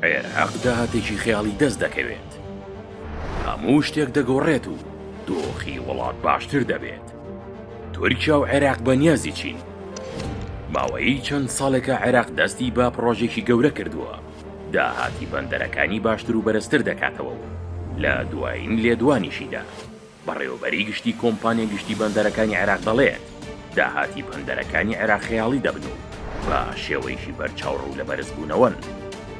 عێراق داهاتێکی خەیاڵی دەست دەکەوێت هەموو شتێک دەگۆڕێت و دۆخی وڵات باشتر دەبێت تورکیا و عێراق بەنیازی چین ماوەی چەند ساڵێکە عێراق دەستی بە پڕۆژێکی گەورە کردووە داهاتی بەندەرەکانی باشتر و بەرزتر دەکاتەوە و لە دوایین لێدوانیشیدا بەڕێوەبەری گشتی کۆمپانیا گشتی بەندەرەکانی عێراق دەڵێت، داهاتی بەندەرەکانی عێراق خەیاڵی دەبن و بە شێوەیەکی بەرچاو ڕوو لە بەرزبوونەوەن.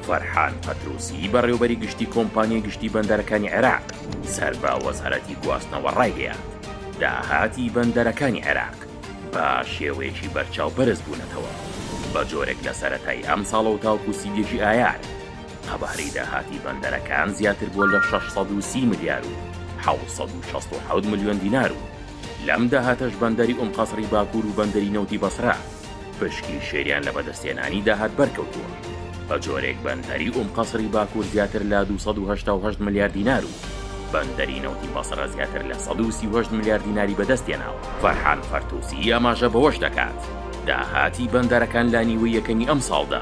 فەرحان پەتروسی، بەڕێوەبەری گشتی کۆمپانیای گشتی بەندەرەکانی عێراق سەر بە وەزارەتی گواستنەوە ڕایگەیاند، داهاتی بەندەرەکانی عێراق بە شێوەیەکی بەرچاو بەرزبوونەتەوە، بە جۆرێک لە سەرەتای ئەمساڵەوە تاوەکو سی و یەکی ئایار، قەبارەی داهاتی بەندەرەکان زیاتر بووە لە شەش سەد و سی ملیار و حەوت سەد و شەست و حەوت ملیۆن دینار و لەم داهاتەش بەندەری ئوم قەسڕی باکوور و بەندەری نەوتی بەسرە پشکی شێریان لە بەدەستهێنانی داهات بەرکەوتووە. بە جۆرێک بەندەری ئوم قەسڕی باکوور زیاتر لە دوو سەد و هەشتا و هەشت ملیار دینار و بەندەری نەوتی بەسرە زیاتر لە سەد و سی و هەشت ملیار دیناری بەدەستهێناوە. فەرحان فەرتوسی ئاماژە بەوەش دەکات، داهاتی بەندەرەکان لە نیوەی یەکەمی ئەمساڵدا،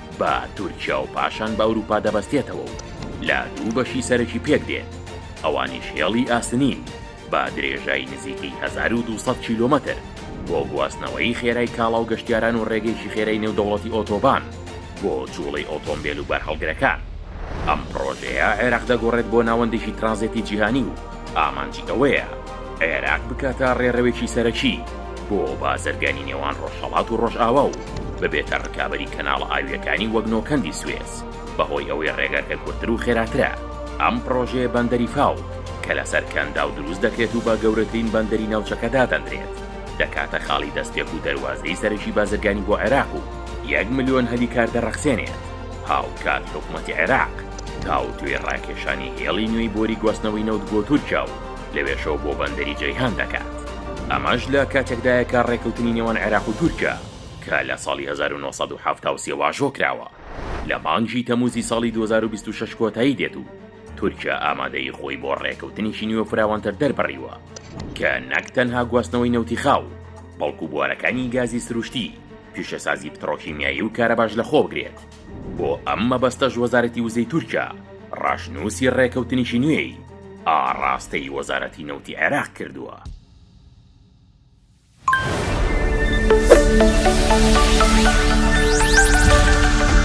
بە تورکیا و پاشان بە ئەوروپا دەبەستێتەوە و لە دوو بەشی سەرەکی پێک دێت، ئەوانیش هێڵی ئاسنین بە درێژای نزیکەی هەزار و دوو سەد کیلۆمەتر بۆ گواستنەوەی خێرای کاڵا و گەشتیاران و ڕێگەیەکی خێرای نێودەوڵەتی ئۆتۆبان بۆ جوڵەی ئۆتۆمبێل و بارهەڵگرەکان. ئەم پڕۆژەیە عێراق دەگۆڕێت بۆ ناوەندێکی ترانزێتی جیهانی و ئامانجی ئەوەیە عێراق بکاتە ڕێڕەوێکی سەرەکی بۆ بازرگانی نێوان ڕۆژهەڵات و ڕۆژئاوا و ببێتە ڕکابەری کەناڵە ئاوییەکانی وەک نۆکەندی سوێس، بەهۆی ئەوەی ڕێگاکە کورتتر و خێراترە. ئەم پڕۆژەیە بەندەری فاو، کە لەسەر کەنداو دروست دەکرێت و بە گەورەترین بەندەری ناوچەکە دادەنرێت، دەکاتە خاڵی دەستپێک و دەروازەی سەرەکی بازرگانی بۆ عێراق و یەک ملیۆن هەلی کار دەڕەخسێنێت. هاوکات حکومەتی عێراق تاوتوێی ڕاکێشانی هێڵی نوێی بۆری گواستنەوەی نەوت بۆ تورکیا و، لەوێشەوە بۆ بەندەری جەیهان دەکات. ئەمەش لە کاتێکدایە کە ڕێککەوتنی نێوان عێراق و تورکیا کە لە ساڵی هەزار و نۆ سەد و حەفتا و سێ واژۆ کراوە، لە مانگی تەمووزی ساڵی دوو هەزار و بیست و شەش کۆتایی دێت و تورکیا ئامادەیی خۆی بۆ ڕێککەوتنێکی نوێ و فراوانتر دەربڕیوە کە نەک تەنها گواستنەوەی نەوتی خاو، بەڵکو بوارەکانی گازی سروشتی، پیشەسازی پتڕۆکیمیایی و کارەباش لەخۆبگرێت. بۆ ئەم مەبەستەش وەزارەتی وزەی تورکیا ڕەشنووسی ڕێکەوتنیی نوێی ئاڕاستەی وەزارەتی نەوتی عێراق کردووە.